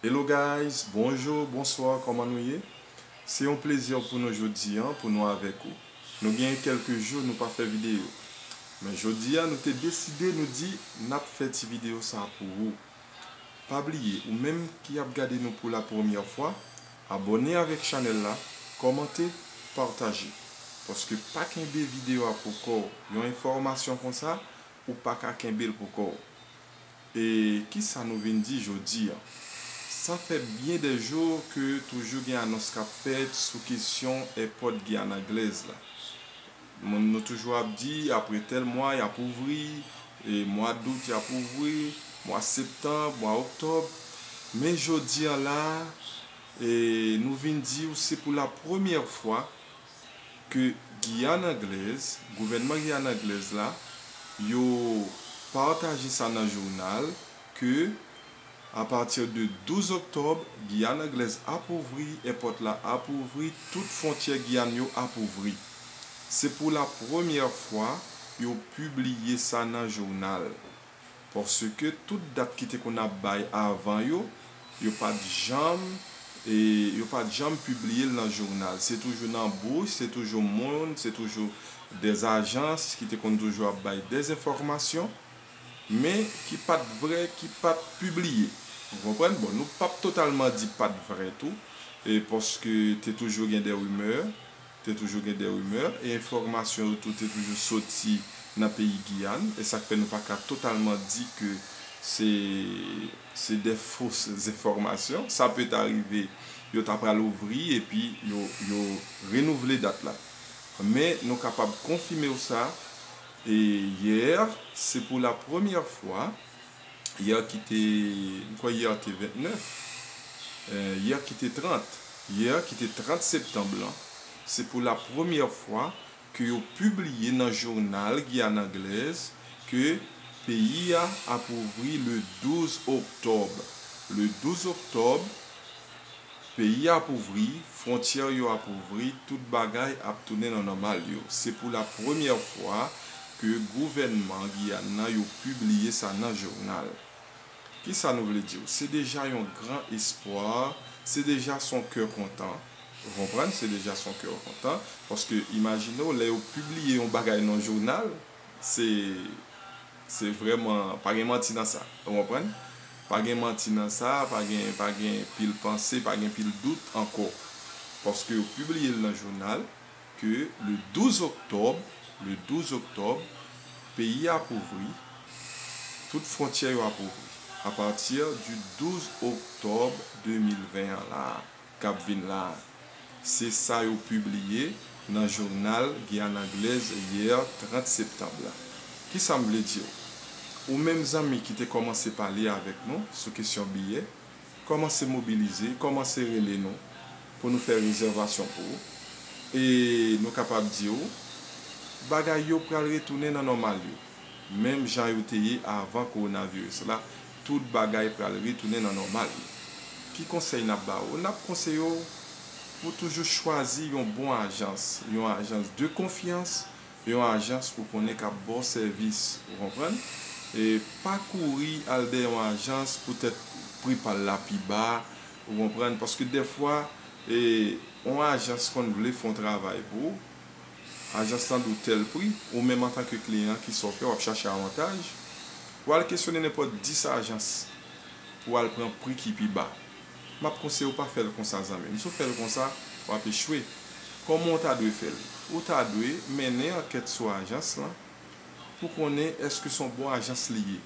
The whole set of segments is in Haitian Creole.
Hello guys bonjour bonsoir kòman nou ye se yon plezi pou nou jodi an pou nou avèk ou nou genyen kèlke jou nou pa fè video men jodi a nou te deside nou di nap fè ti video sa pou ou pa bliye ou menm ki ap gade nou pou la premyè fwa abòne avèk chanèl la kòmante pataje paske pa kenbe video a pou kòw yon enfòmasyon konsa ou paka kenbel pou kòw. E ki sa nou vin di jodi an? Sa fè byen dè jou ke toujou gen anons k ap fèt sou kesyon èpòt Giyàn Anglèz la. Moun nou toujou ap di apre tèl mwa y ap ouvri, e mwa dout y ap ouvri, mwa septanb, mwa oktòb. Men jodi an la a, e nou vin di ou se pou lapremyè fwa, ke Giyàn Anglèz, gouvènman Giyàn Anglèz la, yo pataje sa nan jounal ke a pati de 12 oktòb, Giyàn Anglèz ap ouvri, èpòt la ap ouvri, tout fwontyè Giyàn yo ap ouvri. Se pou la premyè fwa yo pibliye sa nan jounal. Paske tout dat ki te konn ap bay avan yo, yo pa t janm, yo pa t janm pibliye l nan jounal. Se toujou nan bouch, se toujou moun, se toujou dè ajans ki te konn toujou ap bay dè enfòmasyon, men ki pa t vrè, ki pa t pibliye. Ou konprann? Bon, nou p ap totalman di pa t vrè tou, paske te toujou gen dè rimè. Te toujou gen des rumeurs e enfòmasyon yo tou te toujou soti nan peyi Giyàn e sa k fè nou pa ka totalman di ke se se de fos enfòmasyon. Sa pe ta rive yo ta pral ouvri epi yo yo renouvle dat la. Men nou kapab konfime w sa e yè se pou la premyè fwa. Yè ki te, m kwè yè te 29, yè ki te 30, yè ki te 30 septanm lan, se pou la premyè fwa ke yo pibliye nan jounal Giyàn Anglèz ke peyi a ap ouvri le 12 oktòb. Le 12 oktòb, Peyi ap ouvri, frontyè yo ap ouvri, tout bagay ap tounen nan nòmal yo. Se pou la premyè fwa ke gouvènman Giyàn nan yo pibliye sa nan jounal. Ki sa nou vle diw? Se deja yon gran espwa, se deja son kè kontan. Ou konprann? Se deja son kè kontan. Paske imajinew lè yo pibliye yon bagay nan jounal, se. Se vrèman pa gen manti nan sa. Ou konprann? Pa gen manti nan sa, pa gen pa gen pil panse, pa gen pil dout ankò. Paske yo pibliye l nan jounal ke le 12 oktòb, le 12 oktòb, peyi ap ouvri, tout fwontyè yo ap ouvri. A pati di 12 oktòb 2020 an la a. k ap vin la a, se sa yo pibliye nan jounal Guyane Anglaise yè 30 septanb la. Ki sa m vle di w? Ou menm zanmi ki te kòmanse pale avèk nou sou kesyon biyè, kòmanse mobilize, kòmanse rele nou pou nou fè rezèvasyon pou ou. E nou kapab di w, bagay yo pral retounen nan nòmal yo, menm jan yo te ye avan kowonaviris la Tout bagay pral retounen nan nòmal yo. Ki konsèy n ap ba ou? N ap konseye w pou toujou chwazi yon bon ajans, yon ajans de konfyans, yon ajans ou konnen k ap ba w sèvis, ou konprann? E pa kouri al dèyè yon ajans poutèt pri pa l la pi ba, ou konprann, paske dèfwa yon ajans konn vle fè yon travay pou ou, ajans lan di w tèl pri, ou menm antanke kliyan ki sa w fè w ap chache avantaj, ou al kesyone nenpòt 10 ajans pou w al pran pri ki pi ba. M ap konseye w pa fè l konsa zanmi m, si w fè l konsa w ap echwe. Kòman w ta dwe fè l? Ou ta dwe mennen ankèt sou ajans lan pou konnen èske se yon bon ajans li ye.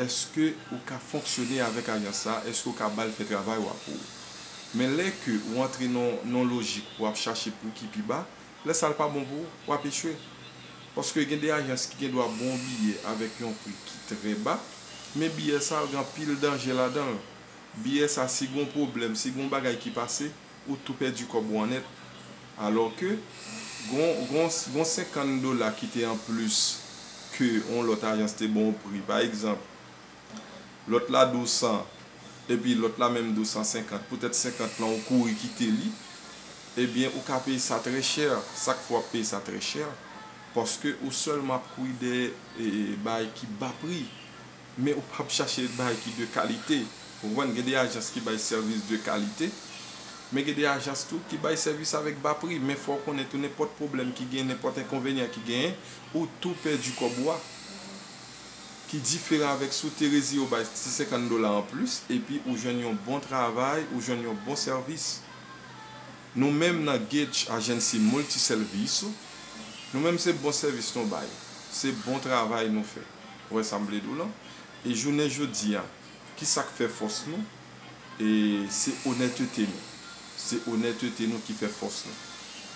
eske ou ka fonksyone avèk alyans sa, eske ou ka bal fè travay ou a pou ou. Men lè ke ou antre nan yon lojik pou ap chache pou ki pi ba, lè sa l pa bon pou ou, w ap echwe. Paske gen de alyans ki gen dwa ba w biyè avèk yon pri ki trè ba, men biyè sa yo gen anpil danje ladan l. Biyè sa si gen yon pwoblèm, si gen yon bagay ki pase, Ou tou pèdi kòb ou an nèt. Alò ke, gon, gon, gon senkann dola ki te an plis ke yon lòt ajans te ban w pri. Pa egzanp, lòt la di w 100, epi lòt la menm di w 150, poutèt 50 lan ou kouri kite li, ebyen ou ka peye sa trè chè. Sa k fè w ap peye sa trè chè? Paske ou sèlman ap kouri dèyè e, e, bagay ki ba pri. Men ou pap chache bay ki de kalite. Ou konprann? Gen de ajans ki bay sèvis de kalite, men gen de ajans tou ki bay sèvis avèk ba pri. Men fò ou konnen tou nenpòt pwoblèm ki genyen, nenpòt enkonvenyan ki genyen, ou tou pèdi kòb ou a. Ki diferan avèk si w te reziye w bay ti 50 dola an plis, epi ou jwenn yon bon travay, ou jwenn yon bon sèvis. Nou menm nan Gage Agency Multi Serviço, nou menm se bon sèvis nou bay. Se bon travay nou fè. Ou wè sa m vle di w lan? E jounen jodi a, ki sa k fè fòs nou? E se onètete nou. Se onètete nou ki fè fòs nou.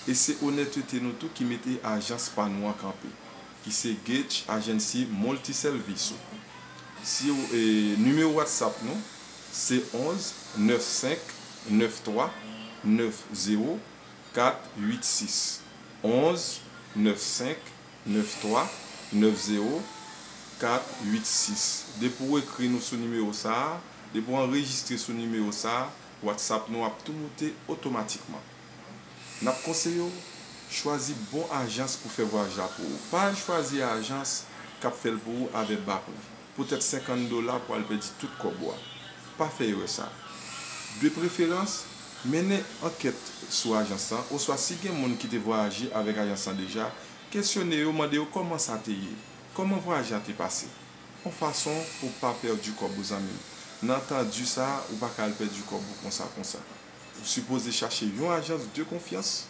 E se onètete nou tou ki mete ajans pa nou an kanpe, ki se Gage Agency Multiservice ou. Si w, e nimewo WhatsApp nou se 11 95 93 90 486, 11 95. 93 90 486 depi ou ekri nou sou nimewo sa a depi ou anrejistre sou nimewo sa a whatsapp nou ap tou moute otomatikman n ap konseye w chwazi bon ajans pou fè vwayaj la pou ou pa al chwazi ajans k ap fè l pou ou avè ba pri. Poutèt 50 dola pral pèdi tout kòb ou a. Pa fè erè sa. De preferans, mennen ankèt sou ajans lan oswa si gen moun ki te vwayaje avèk ajans lan deja, kesyone yo, mande yo kòman sa te ye, kòman vwayaj la te pase. On fason pou pa pèdi kòb ou zanmi m. Nan tan di sa a, ou pa ka al pèdi kòb ou konsa konsa. Ou sipoze chache yon ajans de konfyans.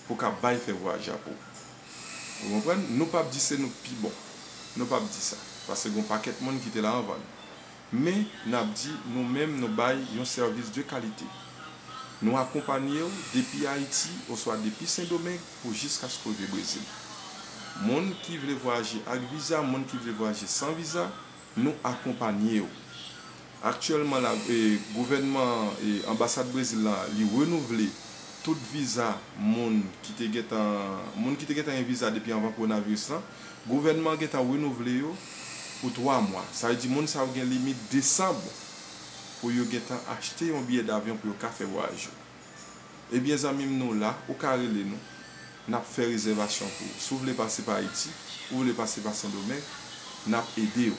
pou ka bay fè vwa japo ou konprann nou pap di se nou k pi bon nou pap di sa paske gon pakèt moun ki te la anvan nou men nap di nou menm nou bay yon sèvis de kalite nou akonpanye ou depi ayiti oswa depi sendomeng pou jiskaske ou rive brezil moun ki vle vwayaje ak viza moun ki vle vwayaje san viza. Nou akonpanye yo. Aktyèlman la, gouvènman an, anbasad Brezil la, li renouvle tout viza moun ki te gentan, moun ki te gentan gen viza depi anvan kowonaviris lan, gouvènman an gentan renouvle yo pou 3 mwa. Sa vle di moun sa yo gen limit desanm pou yo gentan achte yon biyè davyon pou yo ka fè vwayaj yo. Ebyen zanmim nou la ou ka rele nou nap fè rezèvasyon pou ou si w vle pase pa Ayiti ou vle pase pa Sendomeng nap edew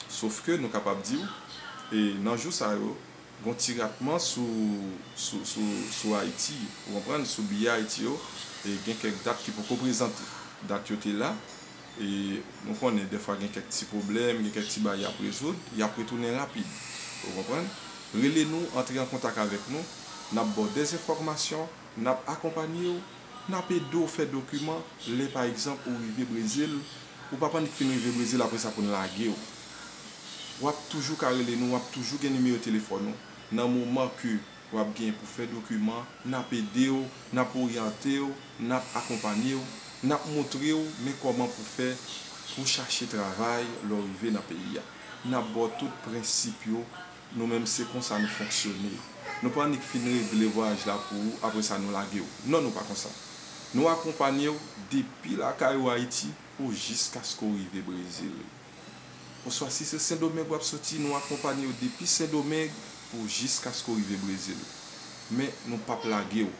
sof ke nou kapab diw e nan jou sa yo gon ti ratman sou sou Ayiti ou konprann sou biyè Ayiti yo e gen kèk dat ki poko prezante dat yo te la. E nou konnen dèfwa gen kèk ti pwoblèm, gen kèk ti bagay y ap rezoud, y ap retounen rapid. Ou konprann? Rele nou, antre an kontak avèk nou, n ap ba w dezenfòmasyon, n ap akonpanye w, n ap ede w fè dokiman lè pa egzanp ou rive Brezil, ou pa pan fin rive Brezil apre sa pou n lage w. W ap toujou ka rele nou, w ap toujou gen nimewo telefòn ou nan moman ke. wap gen pou fè dokiman, nap edew, nap oryantew, nap akonpanyew, nap moutrew men kòman pou fè pou chache travay lè w rive nan peyi a. Nap baw tout prensip yo, nou menm se konsa nou fonksyone. Nou pa annik fin regle vwayaj la pou ou apre sa nou lagew. Non nou pa konsa. Nou akonpanyew depi lakay ou Ayiti pou jiskaske w rive Brezil. oswa si se Sendomeng w ap soti, nou akonpanye w depi Sendomeng pou jiskaske w rive Brezil. Men, nou p ap lage w.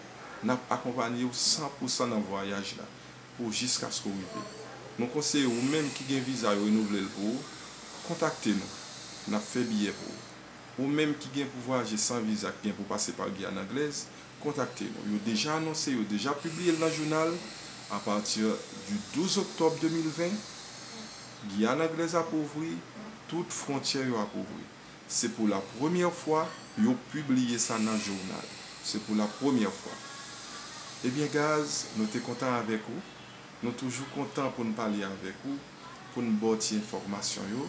N ap akonpanye w san pou san nan vwayaj la pou jiskaske w rive. Nou konseye ou menm ki gen viza yo renouvle l pou ou, kontakte nou. N ap fè biyè pou ou. Ou menm ki gen pou vwayaje san viza ki gen pou pase pa Guyane Anglaise, Kontakte nou. Yo deja anonse, yo deja pibliye l nan jounal, apati di 12 oktòb 2020, Giyàn Anglèz ap ouvri, tout fwontyè yo ap ouvri. Se pou la premyè fwa yo pibliye sa nan jounal. Se pou la premyè fwa. Ebyen Gaz, nou te kontan avèk ou. Nou toujou kontan pou n pale avèk ou, pou n ba w ti enfòmasyon yo.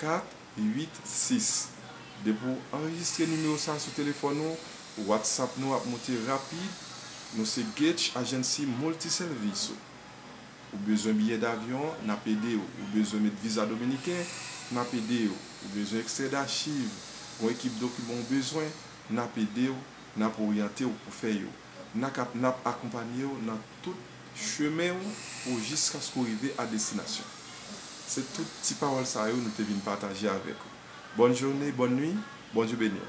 4, 8, 6. Depi w anrejistre nimewo sa sou telefòn ou, WhatsApp nou ap moute rapid. Nou se Getch Agency Multi Serviço. Ou bezwen biyè davyon, n ap ede w. Ou bezwen met viza dominiken, n ap ede w. Ou bezwen ekstrè dachiv, gon ekip dokiman ou bezwen, n ap ede w, n ap oryante w pou fè yo. N ak n ap akonpanye w nan. Tout chemen w pou jiskaske w rive a destinasyon. Se tout ti pawòl sa yo nou te vin pataje avèk ou. Bòn jounen, bòn nwi, Bondye beni w.